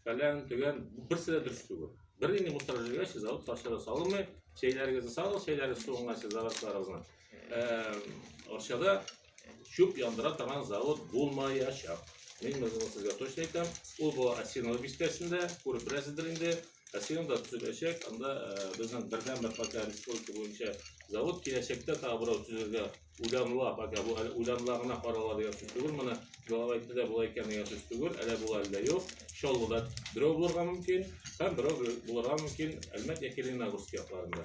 фәлән, төгән, берсе дә дөрес түгел. Бер генә мусор җигә сез алып тарчыда салынмый, чәйләрегезне салыгыз, чәйләрегез суынга сез зарысларыгызны. Арчада чүп яндыра торган завод булмаячак. Мин моны сезгә точно әйтәм. Ул бу Асинова бистәсендә, күреп беләсездер инде. Асиновда төзеләчәк, анда безнең бердәнбер пока республика буенча завод киләчәктә тагы берәү төзергә Уйламла, пока бу әле уйламла гына карала дигән сүз түгел моны. Җавап әйтте дә болай икән дигән сүз түгел. Әле бу әллә юк. Чаллыда берәү булырга мөмкин, һәм берәү булырга мөмкин Әлмәт яки Лениногорск якларында.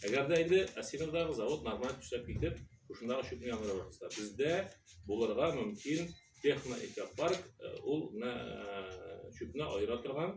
Әгәр дә инде Асиновдагы завод нормаль эшләп китеп, шушындагы чүпне яндыра башласа, бездә булырга мөмкин техноэкопарк, э, ул менә э, чүпне аера торган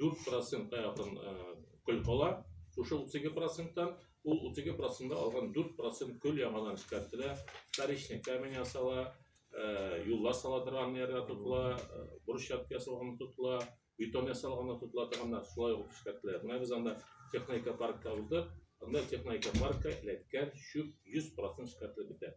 4 процентка якын көл кала. Шушы 32 проценттан ул 32 процентта алган 4 процент көл яңадан эшкәртелә, вторичный камень ясала, юлла сала торган ярга тотыла, брусчатка ясалган тотыла, бетон ясалган тотыла торганнар шулай ук эшкәртелә. Менә без анда техника паркта узды, анда техника паркка эләккән чүп 100 процент эшкәртелеп бетә.